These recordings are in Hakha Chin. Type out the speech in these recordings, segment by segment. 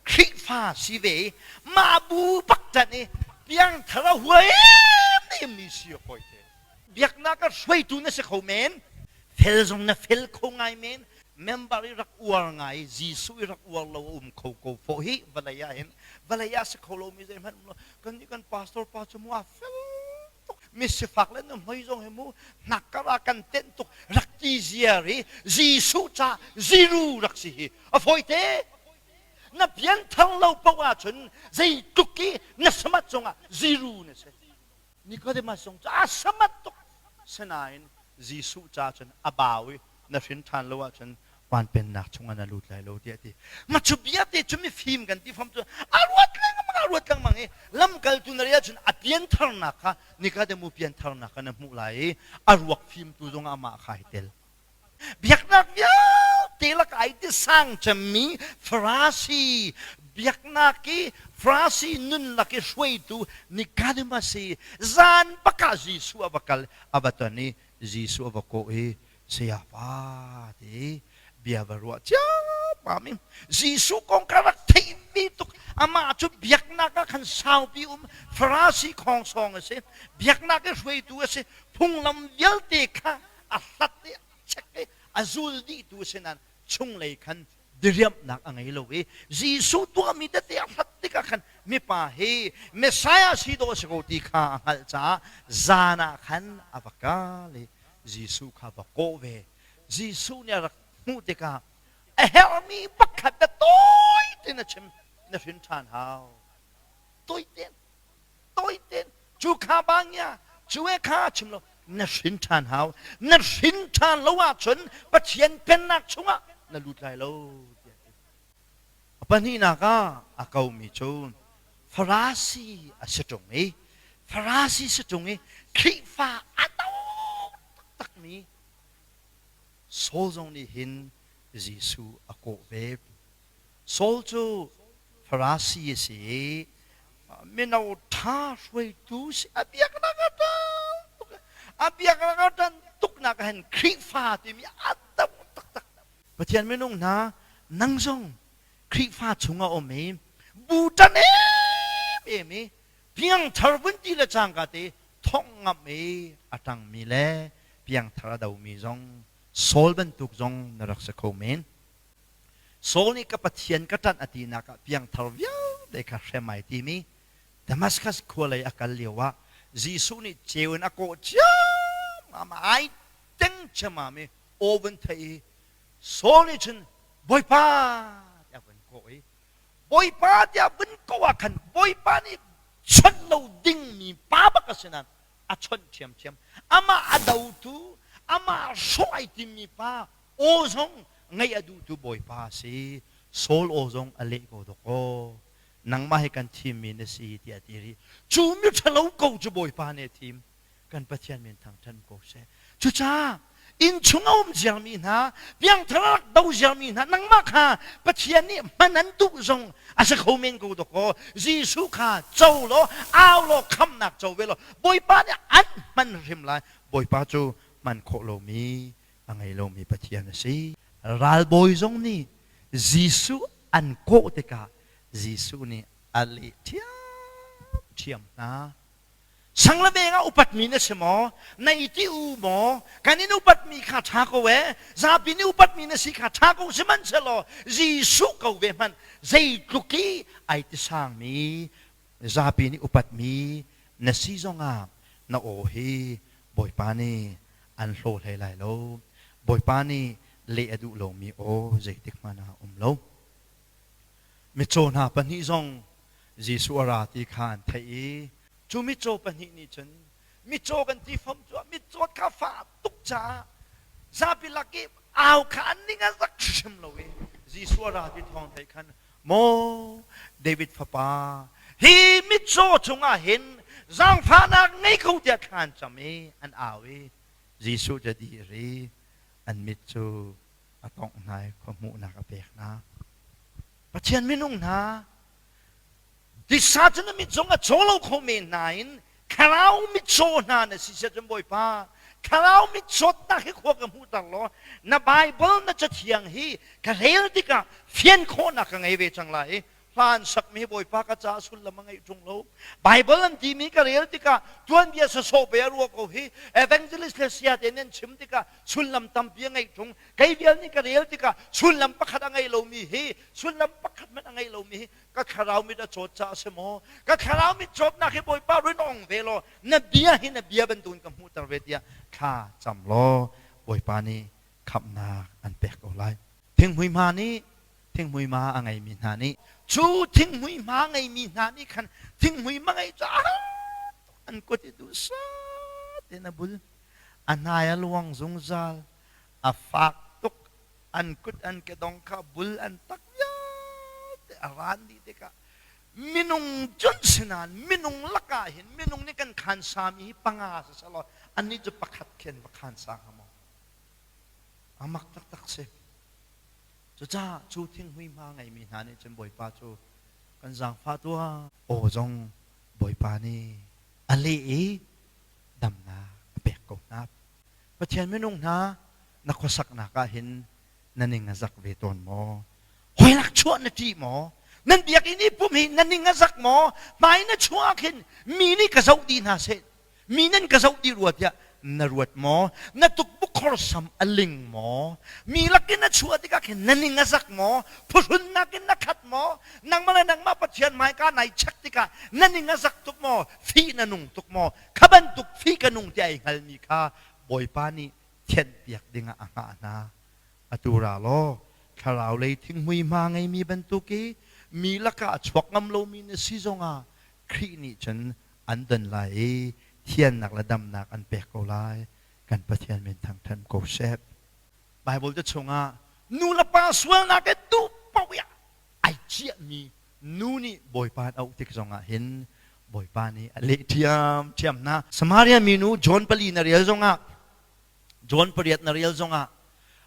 Khrihfa si ve i mah bu bak tan i piangthar a huaem mi si hawi te biaknak a hruaitu na si kho men fel zong na fel kho ngai men member i rak uar ngai Jesuh i rak uar lo a um kho ko fo hi vawlei ah hin vawlei ah si kho lo mi zeihmanh um lo kan nih kan pastor pa cu mu a fel tuk mi sifak le nuhmei zong hi mu nak kar ah kan tenh tuk rak ti ziar i Jesuh ca ziru rak si hi a fawite na pian thang lo poh ah cun zei tluk i na samat cungah ziru na si Nicodemus zong cu a samat tuk sinain Jesuh ca cun a bau i na hrin ṭhan lo ahcun van pennak chungah na lut lai lo tiah a ti. Mah cu vialte cu mifim kan ti fam cu a ruat lengmang a ruat lengmang i lamkaltu na rih ahcun a piantharnak kha Nikademu piantharnak kha na hmuh lai i a ruak fimtu zongah amah kha ai tel. Biaknak vialte laka ai ti sang cemmi Farasi biaknak i Farasi nunnak i hruaitu Nikademas i zan bakah Jesuh a va kal a va ton i Jesuh a va kawh i, Sayapa, ti i bia va ruah ciammam i Jesuh kong ka rak theihmi tuk, amah cu biaknak ah khan saupi um Farasi khawng sawng a si, biaknak i hruaitu a si, phunglam vialte kha a hlat i a check i a zul dihtu a si nain chunglei khan diriamhnak a ngei lo i Jesuh tuahmi tete a hlat tikah khan mipa hi Messiah si dawh a si ko ti kha a hngalh caah zan ah khan a va kal i Jesuh kha va kawh ve. Jesuh nih a rak hmuh tikah a herhmi pakhat a tawi tiin a chim. Na hrin ṭhan hau. Tawite toi ten cu kha bangya cu e kha chim lo na hrin ṭhan hau na hrin ṭhan lo ahcun Pathian pennak chungah na lut lai lo tiah a pahnihnak ah a komi cu farasi a si ṭung i farasi si ṭung i Khrihfa a to taktakmi Saul zong nih hin Jesuh a kawh ve Saul cu Farasi a si i mino ṭha hruaitu si a biaknak a ṭan tuk. A biaknak a ṭan tuknak ah hin Khrihfa timi a dam taktak. Pathian minung hna, nang zong Khrihfa chungah um i bu ṭan em em i piangthar vunti le cangka te thongh ngamh i a ṭangmi le piangthar a domi zong Saul bantuk zong na rak si kho men. Saul nih ka Pathian ka ṭanh a tinak ah piangthar vialte kha hrem ai tim i Damaskas khua lei a kal lioah Jesuh nih ceu in a kawh ciammam a ai teng ciammam i aw vun theih i Saul nih cun Bawipa tiah vun kawh i Bawipa tiah vun kawh ah khan Bawipa nih chawnh lo dingmi pa bak a si nain a chawnh ṭhiamṭhiam. Amah a dotu, amah hrawh ai timmi pa Aw zong ngaih a duhtu Bawipa a si, Saul aw zong a leh ko dawk aw, nangmah hi kan thimmi na si, tiah a ti rih. Cu miṭhalo ko cu Bawipa nih a thim, kan Pathian min thangṭhat ko seh. Cucaah innchung a um ziarmi hna, piangthar a rak do ziarmi hna, nangmah kha Pathian nih hman an duh zong a si kho men ko dawk aw, Jesuh kha co law, au law, khamhnak co ve law, Bawipa nih an hman hrim lai, Bawipa cu hman khawh lomi a ngei lomi Pathian a si. Ralbawi zong nih Jesuh an kawh tikah Jesuh nih a leh ṭhiamṭhiam hna. Sang le veng ah upatmi na si maw? Na i ti u maw? Kan in upatmi kha ṭha ko ee. Zapi nih upatmi na si kha ṭha ko, sihmanhsehlaw Jesuh ko ve hmanh zeitluk i ai ti sangmi zapi nih upatmi na si zongah na aw hi Bawipa nih an hlaw hlei lai lo. Bawipa nih leh a duh lomi aw zeitikhmanh ah a um lo. Mitcaw hna pahnih zong Jesuh a ra ti kha an theih i cu mitcaw pahnih nih cun mitcaw kan ti fam cu mitcaw kha fak tuk caah zapi lak i au kha an ning a zak hrim lo i Jesuh a ra ti thawng theih khan Maw David fapa, hi mitcaw chungah hin zaangfahnak ngei ko tiah thla an cam i an au i Jesuh cu di a ri, an mit cu a tawngh hna i khua hmuhnak a pek hna. Pathian minung hna, Tisa cun a mitcung a chaw lo kho men hna in thlarau mitcaw hna na si siah cun Bawipa thlarau mitchawtnak hi khua ka hmuhter law na Baibal na cathiang hi ka rel tikah fian khawhnak ka ngei ve cang lai i hla an sakmi hi Bawipa ka caah sullam a ngei ṭung lo Baibal an timi ka rel tikah tuanbia sasawh be a ruah ko hi evangelist le sia te nih an chim tikah sullam tampi a ngei ṭung kei vial nih ka rel tikah sullam pakhat a ngei lomi hi sullam pakhat hmanh a ngei lomi hi ka thlarau mit a cawt caah a si maw ka thlarau mit cawtnak hi bawipa rinawng ve law na bia hi na bia bantuin ka hmuhter ve tiah thla cam law bawipa nih khamhnak an pek ko lai thinghmuihma nih thinghmuihma a ngeimi hna nih cu thinghmuihma ngeimi hna nih khan thinghmuihma ngei caah an kut i duhsah in a bul a hnai a luang zungzal a fak tuk. An kut an kedong kha bul an tak vialte a ran dih tikah minung cun si nain minung lakah hin minung nih kan khansami hi panga siselaw annih cu pakhat khen va khan sang a maw a mak taktak si cucaah cu thinghuihma ngeimi hna nih cun bawipa cu kan zaangfah tuah aw zong bawipa nih a leh i damnak a pek ko hna Pathian minung hna, na khuasaknak ah hin na ning a zak ve tawn maw? Hoinak chuah na ṭih maw? Nan biakinn i pum hi na ning a zak maw? Hmai na chuah ah khin mi nih ka zoh dih hna seh, mi nan ka zoh dih rua tiah na ruat maw? Na tukbuk khorsam a ling maw? Mi lakin na chuah tikah khin na ning a zak maw? Phuhrun nakin na khat maw? Nangmah le nangmah Pathian hmaika nai check tikah na ning a zak tuk maw? Fih na nung tuk maw? Kha bantuk thli ka nung tiah i hngalmi kha Bawipa nih thianhpiak dingah a hngah hna. Atu ra law thlarau lei thinghmui hma ngeimi bantuk i mi lakah chuak ngam lomi na si zongah Khrih nih cun an don lai i thiannak le damnak an pek ko lai, kan Pathian min thangṭhat ko seh. Baibal ca chungah nulepa sualnak he duh paoh i ai ciahmi nu nih Bawipa an auh tik zongah hin Bawipa nih a leh ṭhiamṭhiam hna. Samaria minu John pali na rial zongah, John pariat na rial zongah,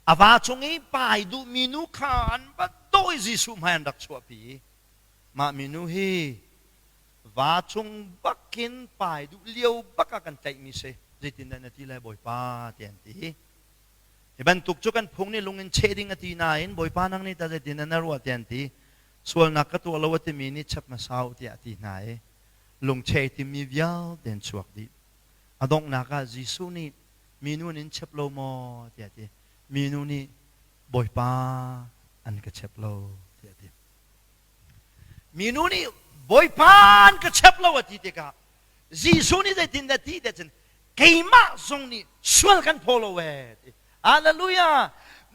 a va chung i pa ai duhmi nu kha an va dawi Jesuh hmai an rak chuahpi i mah minu hi va chung bakin pai duh lio bak ah kan tlaihmi si. Zeitindah na ti lai Bawipa? tiah an ti i Hi bantuk cu kan phung nih lung in cheh ding a ti nain Bawipa nang nih tah zeitindah na ruah tiah an ti. Sualnak ka tuah lo a timi nih chep hmasa u tiah a ti hna i lungchei timi vialte in chuak dih. A donghnak ah Jesuh nih minu nin chep lo maw tiah a ti. Minu nih Bawipa an ka chep lo tiah a ti. Minu nih Bawipa an ka chep lo a ti tikah Jesuh nih zeitindah ti tiah cun keimah zong nih sual kan phaw lo ee ti Hallelujah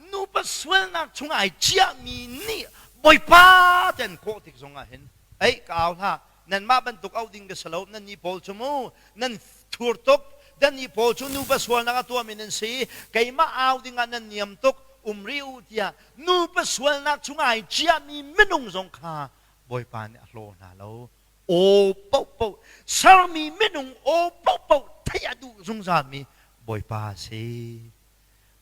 nupa sualnak chung ai ciahmi nih Bawipa ten kawh tik zongah hin ei ka au hlah nanmah bantuk auh ding ka si lo nannih pawl cu mu nan thur tuk nannih pawl cu nupa sualnak a tuahmi nan si i keimah au dingah nan niam tuk um rih u tiah nupa sualnak chung ai ciahmi minung zong kha Bawipa nih a hlaw hna lo aw paohpaoh sermi minung aw paohpaoh theih a duh zungzalmi Bawipa a si.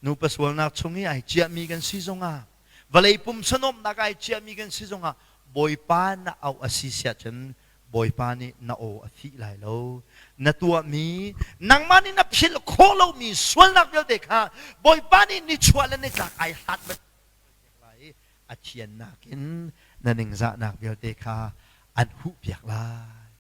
Nupa sualnak chung i ai ciahmi kan si zongah, vawlei pumsanuamhnak ai ciahmi kan si zongah Bawipa na auh a si siah cun Bawipa nih na aw a fih lai lo. Na tuahmi, nangmah nih na philh khawh lomi sualnak vialte kha Bawipa nih nichuah le nitlak ai hlat bantuk lai i a thian nakin na ningzahnak vialte kha an huhpiak lai.